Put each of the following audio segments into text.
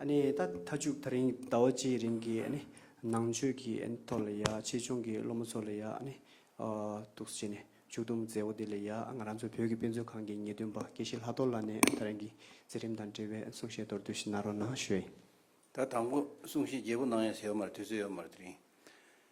ད་ལྟ་ཅུག་ད་རིང་ཟླ་བ་གཅིག་རིང་གི་ནང་ཆོས་ཀྱི་ཐོག་ལ་ཡ་ཆེད་སྦྱོང་གི་སློབ་མ་ཚོ་ལ་ཡ་ཐུགས་བསུ་བྱས་ནས་ཕྱུག་བསྡོམས་མཛད་འོ་དེ་ལ་ཡ་ང་རང་ཚོ་བོད་ཀྱི་དཔེ་མཛོད་ཁང་གི་ངེས་སྟོན་པ་དགེ་བཤེས་ལྷ་རྡོར་ལགས་ནས་ད་རིང་གི་མཛད་རིམ་དང་འབྲེལ་བའི་གསུང་བཤད་མདོར་བསྡུས་ཤིག་གནང་རོགས་གནང་ཞུ། ད་དང་པོ་གསུང་བཤད་རྒྱས་པོ་གནང་ཡ་ཟེར་བ་མ་རེད་དུས་ཚོད་ཡོད་མ་རེད་དེ་རིང་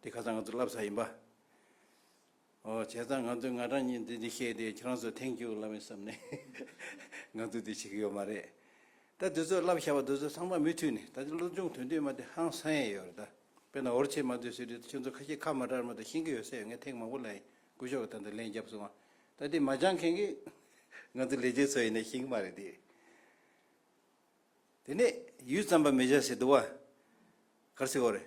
འདི་ཁ་ཚང་ང་ཚོ་བསླབ་ས་ཡིན་པ། ཨོ་བྱས་ཙང་ང་ཚོས་ང་གྲངས་གཉིས་འདི་འདི་བཤད་དེ་ཁྱེད་རང་ཚོ་ཐེངས་བཅུ་བསླབ་མེད་བསམ་ནས་ང་ཚོས་དེ་བྱེད་ཀྱི་ཡོད་མ་རེད་ད། འདི་ཚོ་བསླབ་བཞག་པ་འདི་ཚོ་ཚང་མ་མུས་མཐུད་ནས་ད་ཆ་སློབ་སྦྱོང་དོན་བསྡུས་མ་དེ་ཧང་སང་ཡས་ཡོད་རེད་ད། དཔེར་ན་འོར་ཆེན་མ་འདི་ཟེར་དུས་ད་ཁྱོད་ཚོ་ཁ་ཤས་ཁ་མ་གྲགས་མ་ད་ཤེས་ཀྱི་ཡོད་ས་ཡོད་ངས་ཐེངས་མང་པོ་ལ་ཡིན་སྐུ་ཞོགས་ཀྱི་ད་འདི་ལན་བརྒྱབ་སོང་ང་ད་དེ་མ་སྦྱངས་མཁན་གྱི་ང་ཚོ་ལས་བྱེད་ཚོ་ཡིན་ནས་ཤེས་ཀྱི་མ་རེད་དེ། དེ་ནས་ཡུད་ཙམ་པ་མི་བཞག་ཟེར་འདུག་བ། གར་སི་ཨོ་རེད།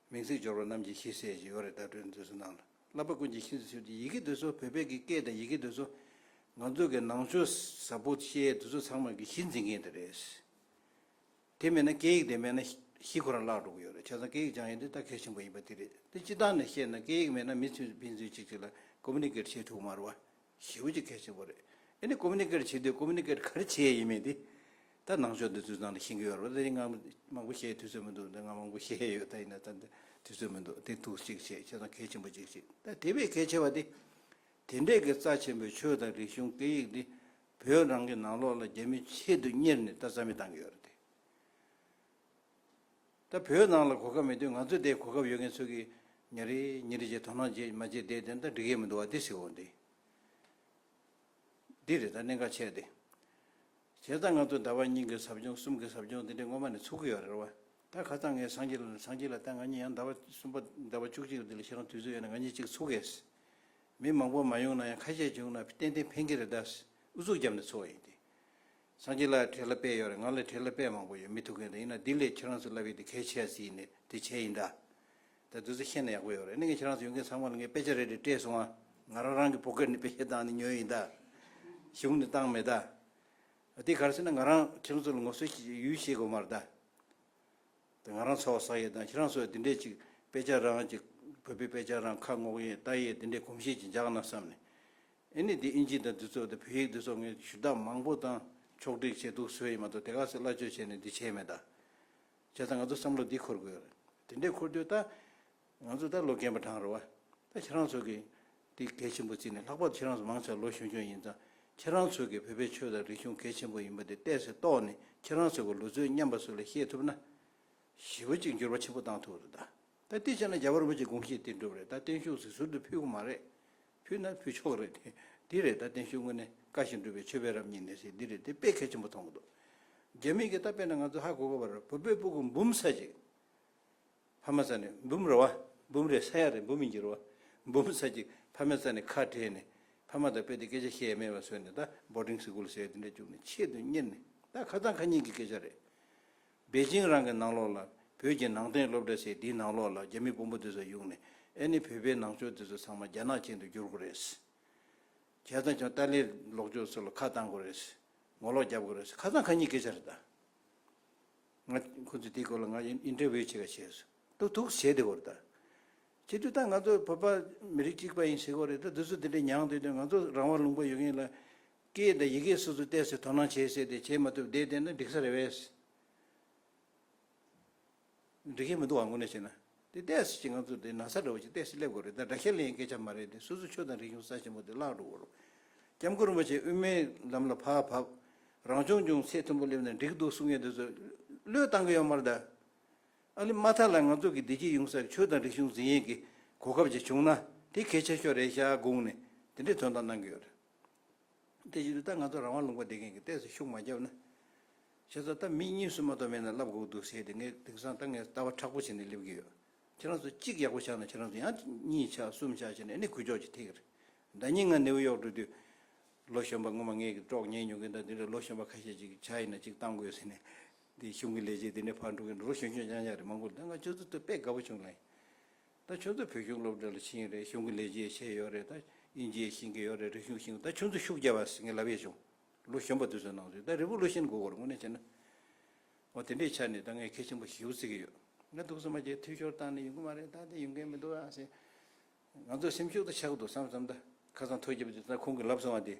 མིང་ཚིག་སྦྱོར་བ་རྣམས་ཀྱི་གཞི་གསལ་ཞིང་ཡོད་རེ་བདག་སྤྲོས་འཛིན་སུ་གནང། བསླབ་པ་ཀུན་གྱི་ཤིན་ཏུ་ཆེ་བ་འདི་ཡི་གེ་འདོད་གསོལ་བོད་དཔལ་གྱི་སྐད་དང་ཡི་གེ་འདོད་གསོལ། ང་ཚོ་གི་ནང་ཆོས་ཟབ་པོ་ཤེས་ཡའི་འདོད་གསོལ་ཚང་མ་གི་གཞི་འཛིན་མཁན་དེ་རེད། དེ་མེད་ན་སྐད་ཡིག་དེ་མེད་ན་གཞི་ཁོ་རང་བརླག་འགྲོ་གི་ཡོད་རེད་བྱས་ཙང་སྐད་ཡིག་སྦྱང་ཡུལ་འདི་ད་གལ་ཆེན་པོ་ཡིན་པ་དེ་རེད་དེ་སྤྱི་བཏང་ནས་བཤད་ན་སྐད་ཡིག་མེད་ན་མི་ཚུན་ཕན་ཚུན་གཅིག་གཅིག་ལ Communicate བྱེད་ཐུབ་མ་རུ་བ་ཞེས་བོད་ཀྱི་སྐད་ཆ་པོ་རེད། ཨེ་ནི Communicate བྱེད་དུས Communicate ག་རེ་བྱེད་ཡས་ཡིན་མེད་དེ། ད་ནང་ཆོས་འདི་ཚོའི་ནང་ལ་ཤིང་གི་ཡོ་རོབ་ལ་ཡིན་ང་མང་པོ་བཤད་དུས་ཚོད་མི་འདུག་ད་ང་མང་པོ་བཤད་ཡས་ཡོད་ད་ཡིན་ན་ད་འདི་དུས་ཚོད་མི་འདུག་དེ་ཐུགས་གཅིག་བྱེད་ཁྱེད་རང་གལ་ཆེན་པོ་གཅིག་བྱེད་ད་དེ་བས་གལ་ཆེ་བ་དེ། དེ་འདྲས་ཀྱི་རྩ་ཆེན་པོའི་ཆོས་དང་རིག་གཞུང་སྐད་ཡིག་འདི་བོད་རང་གི་ནང་ལོགས་ལ་རྒྱ་མི་ཆེད་དུ་གཉེར་ནས་ད་རྩ་མེད་བཏང་གི་ཡོད་རེད་དེ། ད་བོད་ནང་ལ་གོ་སྐབས་མེད་དུས་ང་ཚོས་དེའི་གོ་སྐབས་ཡོད་མཁན་ཚོད་ཀྱིས་ཉིན་རེ་ཉིན་རེ་བྱས་དོ་སྣང་བྱས་མ་བྱས་དེའི་དོན་ད་འགྲིག་ཡས་མི་འདུག་བ་འདི་སྲིད་འོ་འདི་འདི་རེད་ད་གནད་འགག་ཆེ་འདི། བྱས་ཙང་ང་ཚོ་ཟླ་བ་གཉིས་ཀྱི་ཟབ་སྦྱོང་གསུམ་གྱི་ཟབ་སྦྱོང་འདི་འདྲའི་སྔོན་མ་ནས་ཚུགས་ཀྱི་ཡོད་རེད་བ་ད་ཁ་ཚང་ངས་སང་གཅིག་ལ་སང་གཅིག་ལ་ད་ང་གཉིས་ཡང་ཟླ་བ་གསུམ་པ་ཟླ་བ་བཅུ་གཅིག་ལ་འདི་ལ་ཤི་རང་དུས་ཚོད་ཡོད་ན་ང་གཉིས་གཅིག་ཚུགས་གས། མི་མང་པོ་མ་ཡོང་ན་ཡང་ཁ་ཤས་བྱུང་ན་ཏན་ཏན་ཕན་གྱི་རེད་ད། ཨུ་ཚུགས་བརྒྱབ་ནས་ཚུགས་བ་ཡིན་འདི། སངས་རྒྱས་ལ་བྲེལ་ལ་དཔལ་ཡོད་རེད་ང་ལ་བྲེལ་ལ་དཔལ་མང་པོ་ཡོད་མི་ཐུག་མཁན་དེ་ཡིན་ན་དེ་ལས་ཁྱེད་རང་ཚོས་ལབ་ཡོད་དེ་གལ་ཆེ་ཡ་སི་ཡིན་ནི་དེ་བྱས་ཡིན་འདྲ། ད་བདུད་རྩི་ཤེས་ན་ཡག་པོ་ཡོད་རེད་ནི་ངས་ཁྱེད་རང་ཚོ་ཡོང་མཁན་ཚང་མ་ལ་ངས་དཔེ་ཆ་རེ་རེ་སྤྲད་སོང་ང་ང་རང་རང་གི་བོ་ཀེར་ནས་དཔེ་ཆ་བཏང་ནས་ཉོས་ཡིན་འདྲ། གཞུང་ནས་བཏང་མེད་འདྲ། དེ་ག་རེ་ཟེར་ན་ང་རང་ཁྱེད་རང་ཚོ་ལ་ངོ་སོ་ཡུལ་ཤེས་དགོས་མ་རེད་དཱ། དེ་ང་རང་ཚོ་ཟ་ཡས་དང་ཁྱེད་རང་ཚོས་དེ་འདྲས་ཅིག་དཔེ་ཆ་རང་གི་བོད་པའི་དཔེ་ཆ་རང་ཁ་སྔོག་ཡས་ལྟ་ཡས་དེ་འདྲས་གོམས་གཤིས་ཅིག་འཇགས་ན་བསམ་ནས། ཨེ་ནི་དེ་ཨིན་ཇི་དང་འདི་ཚོ་དང་བོད་ཡིག་འདི་ཚོ་ངས་ཞུ་དག་མང་པོ་དང་ཕྱོགས་བསྒྲིགས་བྱས་འདུག་བཟོས་ཡིན་མ་གཏོགས་དེ་ག་ཟེར་སླ་བཅོས་བྱས་ནས་འདི་བྱས་མེད་ད། བྱས་ཙང་ང་ཚོ་བསམ་བློ་འདི་འཁོར་དགོས། དེ་འདྲས་འཁོར་དུས་ད། ང་ཚོ་ད་ལོ་རྒན་པ་གྲང་རེད་བ། ད་ཁྱེད་རང་ཚོ་གིས། འདི་གལ་ཆེན་པོ་བརྩིས་ནས་ལྷག་པར་དུ་ཁྱེད་རང་ཚོ་མང་ཆེ་བ་ལོ་ཆུང་ཆུང་ཡིན་ཙང་ཁྱེད་རང་ཚོ་གིས་བོད་པའི་ཆོས་དང་རིག་གཞུང་གལ་ཆེན་པོ་ཡིན་པ་དེ་བལྟས་ཚེ་རྟོགས་ནས་ཁྱེད་རང་ཚོ་གི་ལུས་རྩོལ་སྙམ་པ་སུ་ལ་ཤེས་ཐུབ་ན། ཞི་བ་གཅིག་འགྱུར་བ་ཆེན་པོ་གཏང་ཐུབ་རེད་ད། ད་དེ་བྱས་ན་རྒྱ་བལ་པོ་གཅིག་དགོངས་བཞེད་དེ་འགྲུབ་རེད་ད་བརྟན་བཞུགས་གཟིགས་ཟུར་དུ་ཕུལ་གི་མ་རེད། ཕུལ་ན་ཕུལ་ཆོག་རེད་དེ། འདི་རེད་ད་བསྟན་ཞུ་དངོས་གནས་བཀའ་བཞིན་སྒྲུབ་པའི་ཆོས་དཔེ་རབ་སྙིང་ནས་ཞིག་འདི་རེད་དེ་དཔེ་གལ་ཆེན་པོ་མཐོང་གི་འདུག། རྒྱ་མིས་ཀྱི་ད་དཔེ་ན་ང་ཚོ་ཧ་གོ་གོ་བར་བོད་པའི་སྤུ་གུ་འབུམ་ས་ཅིག། ཕ་མ་ས་ནས་འབུམ་རེ་བ་འབུམ་རེ་ས་ཡ་རེ་འབུམ་ཉིས་རེ་བ་འབུམ་ས་ཅིག་ཕ་མའི་ས་ནས་ཁ་བྲལ་ནས་ཕ་མ་དང་དཔེ་དེ་སྐད་ཆ་བཤད་ཡ་མེད་པ་བཟོས་ནས་ད Boarding School ཟེར་ཡ་དེ་འདྲ་བཅུག་ནས་ཆེད་དུ་གཉེར་ནས་ད་ཁ་ཚང་ཁ་ཉིན་གྱི་སྐད་ཆ་རེད། པེ་ཅིང་རང་གི་ནང་ལོགས་ལ་བོད་ཀྱི་ནང་བསྟན་སློབ་གྲྭ་ཞིག་འདིའི་ནང་ལོགས་ལ་རྒྱ་མི་དཔོན་པོ་འདི་ཚོ་གཡུགས་ནས་ཨེ་ནི་བོད་པའི་ནང་ཆོས་འདི་ཚོ་ཚང་མ་རྒྱ་ནག་ཅན་དུ་བསྒྱུར་དགོས་རེད། གལ་ཏང་ཀྱང་ཏཱ་ལའི་ལོག་ཕྱོགས་ཚོ་ལ་ཁ་བཏང་དགོས་རེད། ངོ་ལོག་རྒྱབ་དགོས་རེད་ཁ་ཚང་ཁ་གཉིས་སྐད་ཆ་རེད་ད། ང་ཁོ་ཚོས་དེའི་སྐོར་ལ་ང Interview བྱེད་ཀ་བྱས་སོ་ཐུག་ཐུག་བྱས་དེ་གོ་ད། ཁྱེད་ཚོས་ད་ང་ཚོ་བོད་པ་མི་རིགས་གཅིག་པ་ཡིན་ཟེར་གོ་རེད་ད་འདི་ཚོ་དེ་འདྲས་མྱངས་དེ་དོན་ང་ཚོ་རང་དབང་ལུང་པ་ཡོད་མཁན་ལ་སྐད་དང་ཡི་གེ་སོ་སོ་བལྟས་ཚེ་དོ་སྣང་བྱེད་སྲིད་དེ་བྱེད་མ་ཐུབ་བསྡད་བསྡད་ན་འགྲིག་ས་རེད་བས། འགྲིག་གི་མི་འདུག་བ་མགོ་ནས་བྱས་ན། དེ་བལྟས་ཚེ་ཅི་ང་ཚོ་དེ་ན་ཚ་འདྲ་བོ་ཅིག་བལྟས་ཚེ་སླེབས་དགོས་རེད་ད་དྲ་ཁས་ལེན་ཡི་གེ་ཆ་མ་རེད་དེ་སོ་སོ་ཆོས་དང་རིག་གཞུང་ས་ཆེན་པོ་དེ་བརླག་འགྲོ་བོར། སྐྱབས་མགོན་རིན་པོ་ཆེ་དབུས་མའི་ལམ་ལ་བག་བབ། རང་སྐྱོང་ལྗོངས་ཚད་མཐོན་པོ་སླེབས་ན་འགྲིག་འདུག་གསུང་ཡས་དེ་ཚོ་བློས་བཏང་གི་ཡོད་མར་གདའ། ཨ་ལི་མ་ཐ་ལ་ང་ཚོ་གི་བདེ་སྐྱིད་ཡོང་སར་ཆོས་དང་རིག་གཞུང་འཛིན་ཡས་ཀྱི་གོ་སྐབས་ཅིག་བྱུང་ན་དེ་གལ་ཆེ་ཤོས་རེད་ཤག་དགོངས་ནས་དེ་འདྲའི་དོན་དག་གནང་གི་ཡོད་རེད། དེ་བཞིན་དུ་ད་ང་ཚོ་རང་དབང་ལུང་པ་འདེབས་མཁན་གྱི་ལྟས་སུ་ཤུགས་མ་བརྒྱབ་ན། ཁྱེད་ཚོ་ད་མི་གཉིས་སུ་མ་གཏོགས་མེད་ན་ལབ་དགོས་འདུག་ཟེར་ཏེ་ངའི་དིང་སང་ད་ངས་ལྟ་བ་ཕྲག་པོ་བྱས་ནས་སླེབས་ཀྱི་ཡོད། ཁྱེད་རང་ཚོ་གཅིག་ཡག་པོ་ཆགས་ན་ཁྱེད་རང་ཚོ་ཡང་གཉིས་ཆགས་གསུམ་ཆགས་བྱས་ནས་ནི་གུ་ཅོག་ཅིག་ཐེག་གི་རེད། ཟླ་གཉིས་ང་ནེའུ་ཡོག་འགྲོ་དུས། ལོ་གཞོན་པ་ངོ་མ་ངས་ཀྱི་ཀྲོག་ཉན་མྱོང་གི་འདུག་འདི་འདྲའི་ལོ་གཞོན་པ་ཁ་ཤས་ཅིག་ཆ་ཡིན་ན་ཅིག་བཏང་དགོས་ཟེར་ནས། འདིའི་གཞུང་གི་ལས་བྱེད་འདི་འདྲའི་ཕར་འགྲོ་གི་འགྲོ་ལོ་གཞོན་གཞོན་ཅང་ཅང་རེད་མང་པོ་རེད་ད་ང་ཁྱོད་ཚོ་ཐུག་དཔེ་དགའ་པོ་བྱུང་ལ་ཡིན། ད་ཁྱོད་ཚོ་བོད་གཞུང་སློབ་གྲྭ་ལ་ཕྱིན་ཡོད་རེད་གཞུང་གི་ལས་བྱེད་བྱས་ཡོད་རེད་ད་དབྱིན་ཇིའི་ཤིང་གི་ཡོད་རེད་རིག་གཞུང་ཤིང་ད་ཁྱོད་ཚོ་ཤུགས་རྒྱབ་པ་ཟིག་ངས་ལབ་ཡས་བྱུང་ལོ་གཞོན་པ་དུས་ཚོད་ནང་ཟིག་ད་རི་བོ་ལོ་ཤིན་གོ་གོར་དངོས་གནས་བྱས་ན་འོ་དེ་འདྲའི་ཆ་ནས་ད་ངས་གལ་ཆེན་པོ་ཞིག་ཞུ་རྩིས་ཀྱི་ཡོད་ང་འདུག་ཟེར་མ་ཁྱེད་འཐུས་ཤོར་བཏང་ནས་ཡོང་གི་མ་རེད་ད་དེ་ཡོང་མཁན་མི་འདུག་ཨ་ཟེར་ང་ཚོ་སེམས་ཤུགས་ད་ཆག་གི་འདུག་བསམ་བསམ་ད་ཁ་སང་ཐོ་བརྒྱབ་དུས་ད་ཁོང་གིས་ལབ་སོང་བ་དེ།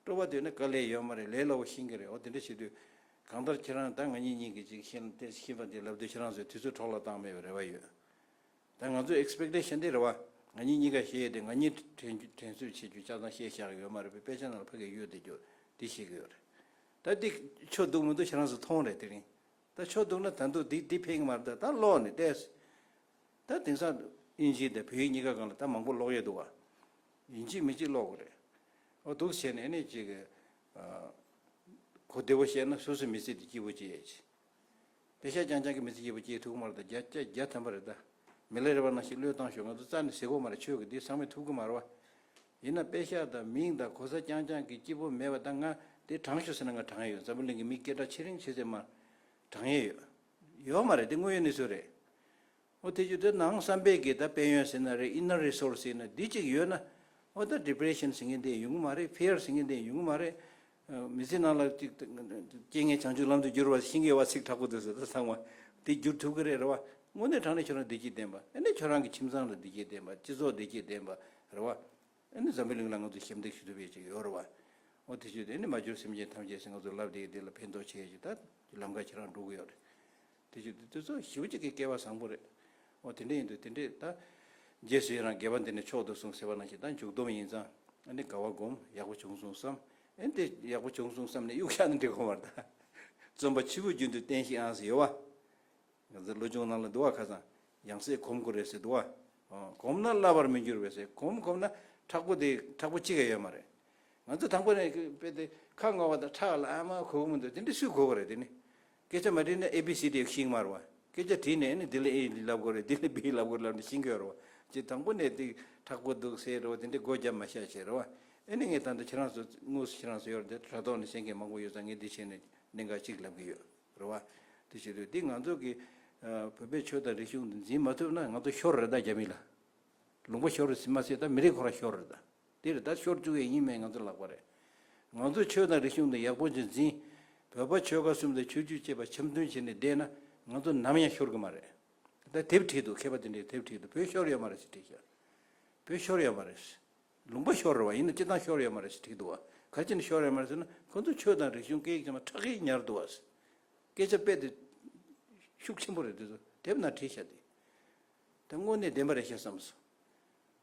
སྤྲོ་བ་དུས་ན་ག་ལེ་ཡོད་མ་རེད་ལས་སླ་བོ་ཤེས་ཀྱི་རེད་འོ་དེ་འདྲ་བྱེད་དུས། གང་ལྟར་ཁྱེད་རང་དང་ང་གཉིས་གཉིས་ཀྱིས་ཅིག་ཤེས་ན་དེ་ཤེས་པ་འདི་ལབ་དུས་ཁྱེད་རང་ཚོས་དུས་ཚོད་གྲོགས་ལ་བཏང་མེད་པའི་རེ་བ་ཡོད། ད་ང་ཚོས Expectation དེ་རེ་བ། ང་གཉིས་གཉིས་ཀ་ཤེས་ཡོད་དེ་ང་གཉིས་དྲན་དྲན་གསོས་བྱེད་རྒྱུ་ཆ་ཚང་ཤེས་བཞག་ཡོད་མ་རེད་པས་དཔེ་ཆ་ནང་ལ་ཕ་གི་གཡུལ་འདི་རྒྱུ་འདི་ཤེས་ཀྱི་ཡོད་རེད། ད་འདི་ཆོ་འདུག་མི་འདུག་ཁྱེད་རང་ཚོས་མཐོང་རེད་དེ་རིང། ད་ཆོ་འདུག་ན་ད་འདུག་འདི་འདི་ཕན་གྱི་མ་རེད་ད་ད་ཀློག་ནས་བལྟས། ད་དེང་སང་ཨིན་ཇི་དང་བོད་ཡིག་གཉིས་ཀ་གང་ལ་ད་མང་པོ་ཀློག་ཡས་འདུག་ག། ཡིན་གཅིག་མིན་གཅིག་ཀློག་གི་རེད། ཨོ་སྡུག་བྱས་ནས་ནི་ཅིག། གོ་བདེ་བོ་བཤད་ན་སུ་སུ་མི་ཚེ་འདི་སྐྱིད་པོ་སྐྱེལ་ཡས་ཆེ། བདེ་ཤ་ཅང་ཅང་གི་མི་ཚེ་སྐྱིད་པོ་སྐྱེལ་ཐུག་གི་མ་རེད་ད་རྒྱ་སྐྱ་རྒྱ་དམ་པ་རེད་ད། མི་ལ་རེ་བ་ནང་ཞིག་བློས་བཏང་ཞུ་ང་ཚོ་རྩ་ནས་ཟིག་གོ་མ་རེད་ཆོས་ཀྱི་འདི་ཚང་མས་ཐུབ་གི་མ་རེད་བ། ཡིན་ན་དཔེ་ཤ་དང་མིང་དང་གོ་ས་ཅང་ཅང་གི་སྐྱིད་པོ་མེད་བ་ད་ང་འདི་དྲང་ཞུ་ཟེར་ན་ང་དྲང་ཡས་ཡོད་འཛམ་བུ་གླིང་གི་མི་སྐད་གྲགས་ཆེ་རིང་ཆེ་ཚད་མ་དྲང་ཡས་ཡོད། ཡོད་མ་རེད་འདི་དངོས་ཡོད་གནས་ཚུལ་རེད། ཨོ་དེ་ཅི་འདྲ་ནའང་བསམ་པའི་གེ་ད་དཔལ་ཡོན་ཟེར་ན་རེད inner resource ཟེར་ན་འདི་གཅིག་ཡོད་ན་ཨོ་ད depression ཟེར་མཁན་དེ་ཡོང་གི་མ་རེད fear ཟེར་མཁན་དེ་ཡོང་གི་མ་རེད། མི་ཚེ་ནང་ལ་རྐྱེན་ངན་བྱང་ཆུབ་ལམ་དུ་བསྒྱུར་བ་ཤིང་གི་བ་ཚིགས་དྲག་པོ་དེ་ཟེར་ད་ཚང་མ་དེ་བསྒྱུར་ཐུབ་ཀྱི་རེད་རེད་བ། དངོས་གནས་དྲང་ནས་ཁྱོད་རང་བདེ་སྐྱིད་ལྡན་པ་ཨེ་ནས་ཁྱོད་རང་གི་ཁྱིམ་ཚང་ལ་བདེ་སྐྱིད་ལྡན་པ་སྤྱི་ཚོགས་བདེ་སྐྱིད་ལྡན་པ་རེད་བ། ཨེ་ནས་འཛམ་བུའི་གླིང་ལ་ང་ཚོ་ཞབས་འདེགས་ཞུ་ཐུབ་ཡོད་ཅིག་ཡོད་རེད་བ། ཨོ་དེ་ཆོས་དེ་ཨེ་ནས་མ་བྱོས་སེམས་ཅན་ཐམས་ཅད་ཟེར་ང་ཚོ་ལབ་བདེའི་བདེ་ལ་ཕན་ཐོགས་ཆེ་ཡོད་ཅིག་ད་ལམ་ཁ་ཁྱེད་རང་འགྲོ་གི་ཡོད་རེད། དེ་བཞིན་དུ་དེ་ཚོ་ཞི་བ་གཅིག་གི་སྐལ་བ་བཟང་པོ་རེད། འོ་དེ་འདྲ་ཡིན་དུས་དེ་འདྲས་ད། རྗེས་སུ་ཡི་རང་རྒྱལ་བ་འདི་ནས་མཆོག་ཏུ་གསུངས་ཟེར་བ་ནང་བཞིན་ད་མཇུག་སྡོམ་ཡིན་ཙང་ཨ་ནི་དགའ་བ་སྒོམ་ཡག་པོ་བྱུང་གསུངས་སམ། ཨེ་འདི་ཡག་པོ་བྱུང་གསུངས་སམ་ནི་གཡུག་ཞག་ནི་འདྲི་གོ་མར་ད། བརྩོན་པ་ཆུ་བོ་རྒྱུན་དུ་བསྟེན་ཤིག་ཨང་ཟེར་ཡོད་བ། ང་ཚོའི་ལོ་ཆུང་ནང་ལ་འདུལ་བ་ཁ་ཙང་ཡང་སྲིད་གོམས་དགོས་རེད་ཟེར་འདུག་བ། གོམས་ན་བསླ་བར་མི་འགྱུར་བས་སེ་གོམས་གོམས་ན་ཁྲག་པོ་དེ་ཁྲག་པོ་གཅིག་ཡང་ཡོད་མ་རེད། ང་ཚོ་དང་པོ་ནས་དཔེ་དེ་ཁ་སྔ་བ་དང་ཁྲག་ལ་ཨ་མ་གོ་གི་མི་འདུག་དེ་འདྲས་སུས་གོ་གི་རེད་དེ་ནི། སྐད་ཆ་མ་དྲིས་ན་ཨེ་བི་སི་ཏིའི་ཤིང་དམར་བ། སྐད་ཆ་དྲིས་ནས་ནི་དེ་ལ་ཨེ་ཡི་ལབ་དགོས་རེད་དེ་ལ་བི་ཡི་ལབ་དགོས་རེད་ལབ་ནས་ཤིང་གོན་རེད་བ། ཅེས་དང་པོ་ནས་དེ་དྲག་པོ་འདུག་ཟེར་རེད་བ་དེ་འདྲའི་སྒོ་རྒྱབ་མ་བྱ་ཞེས་རེད་བ། ཨེ་ནི་ངས་ད་ལྟ་ཁྱེད་རང་ཚོ་དངོས་སུ་ཁྱེད་རང་ཚོ་ཡོད་རེད་དྲ་ཐོག་ནས་བཤད་མཁན་མང་པོ་ཡོད་ཙང་ངས་འདི་བྱས་ནས་གནད་འགག་གཅིག་ལབ་གི་ཡོད་རེད་བ། དེ་བྱེད་དུས་འདི་ང་ཚོ་གི་བོད་པའི་ཆོས་དང་རིག་གཞུང་འདི་འཛིན་མ་ཐུབ་ན་ང་ཚོ་ཤོར་རེད་ད་རྒྱ་མི་ལ་ལུང་པ་ཤོར་མ་ཟད་ད་མི་རིགས་ཁོ་རང་ཤོར་རེད་ད། འདིར་ཟླ་ཤོར་བཅུ་བའི་ཉིན་མེད་ང་ཚོ་ལག་པ་རེད། ང་ཚོས་ཆོས་དང་རིག་གཞུང་དང་ཡག་པོ་གཅིག་འཛིན། བོད་པ་ཆོལ་ཁ་གསུམ་དང་ཆོས་བརྒྱུད་བཅས་པ་འཆམ་མཐུན་བྱས་ནས་བསྡད་ན་ང་ཚོ་ནམ་ཡང་ཤོར་གི་མ་རེད། ད་དེབ་ཁྲིད་དུ་མཁས་པ་དེ་འདྲའི་དེབ་ཁྲིད་དུ་བོད་ཤོར་ཡོད་མ་རེད་ཞེས་བྲིས་ཤག། བོད་ཤོར་ཡོད་མ་རེད། ལུང་པ་ཤོར་བ་ཡིན་ན་སྤྱི་བཏང་ཤོར་ཡོད་མ་རེད་ཞེས་བྲིས་འདུག་བ་ག་ཅི་ནས་ཤོར་ཡོད་མ་རེད་ཟེར་ན་ཁོ་ཚོ་ཆོས་དང་རིག་གཞུང་སྐད་ཡིག་ཚང་མ་ཁྲག་གིས་ཉར་འདུག་བ། སྐད་ཆ་དཔེ་དེབ་ཤུགས་ཆེན་པོ་རེད་འདི་ཚོ་དེབ་ནང་བྲིས་ཤག་འདི་དངོས་གནས་བདེན་པ་རེད་ཤག་བསམ་སོང།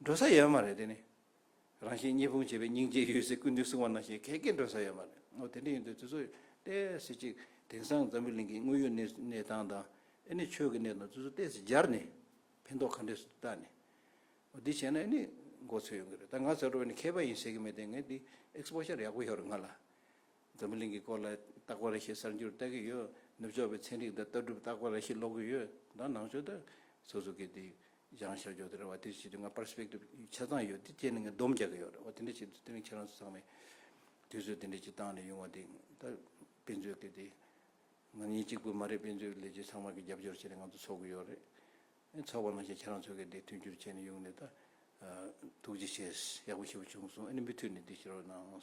འགྲོ་ས་ཡོད་མ་རེད་དེ་ནི། རང་བཞིན་གཉིས་ཕུང་བྱེད་པའི་སྙིང་རྗེ་ཡོད་ཚེ་ཀུན་དུ་བསྲུང་བ་ནང་བཞིན་གལ་དཀའི་འགྲོ་ས་ཡོད་མ་རེད། ངོ་དེ་འདྲ་ཡིན་དུས་དེ་ཚོ་བལྟས་ཟིན་ཅིག་དེང་སང་འཛམ་བུའི་གླིང་གི་དངོས་ཡོད་གནས་གནས་སྟངས་དང་ཨེ་ནི་ཆོས་ཀྱི་གནས་སྟངས་དེ་ཚོ་བལྟས་ཟིན་སྦྱར་ནས་ཕན་ཐོག་ག་འདྲས་སུ་བལྟ་ནས་འདི་བྱས་ན་ཨེ་ནི་མགོ་ཚོད་ཡོང་གི་རེད་ད་ང་ཟེར་བ་ནི་མཁས་པ་ཡིན་ཟེར་གི་མེད་དེ་ངས་འདི Exposure ཡག་པོ་ཡོད་རེད་ང་ལ་འཛམ་བུ་གླིང་གི་སྐོར་ལ་བརྟག་པ་རེ་ཞིག་གསར་འགྱུར་བལྟ་གི་ཡོད། ནུབ་ཕྱོགས་པའི་ཚན་རིག་དང་ལྟ་གྲུབ་བརྟག་པ་རེ་ཞིག་ཀློག་གི་ཡོད། ད་ནང་ཆོས་དང། སོ་སོ་གི་དེ་སྦྱང་བྱ་སྦྱོར་དེ་རེད་བ་དེ་བྱེད་དུས་ང Perspective ཆ་ཚང་ཡོད་དེ་བཅས་ནས་ང་སྡོམ་རྒྱག་གི་ཡོད་རེད་བ་དེ་འདྲ་བྱེད་དུས་དེ་རིང་ཁྱེད་རང་ཚོ་ཚང་མས་དུས་ཚོད་དེ་འདྲ་ཅིག་བཏང་ནས་ཡོང་བ་དེ་ད་དཔེ་མཛོད་གི་དེ་ང་གཉིས་གཅིག་པུ་མ་རེད་དཔེ་མཛོད་ཀྱི་ལས་བྱེད་ཚང་མ་གི་རྒྱབ་སྐྱོར་བྱས་ནས་ང་ཚོ་འཚོགས་གི་ཡོད་རེད། འཚོགས་པ་ནང་བཞིན་ཁྱེད་རང་ཚོ་གི་དེ་མཐུན་འགྱུར་བྱས་ནས་ཡོང་ནས་ད། ཐུགས་རྗེ་ཆེ། ཡག་པོ་ཞེ་པོ་བྱུང་སོང་ཨ་ནི་མུ་མཐུད་ནས་དེ་བྱེད་རོགས་གནང།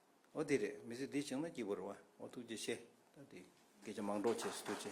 ཨོ་དེ་རེད་མི་ཚེ་འདི་བྱིངས་ན་སྐྱིད་པོ་རེད་བ་ཨོ་ཐུགས་རྗེ་ཆེ་ད་དེ་སྐད་ཆ་མང་གྲོགས་བྱེད་སུ་ཐུགས་ཆེ།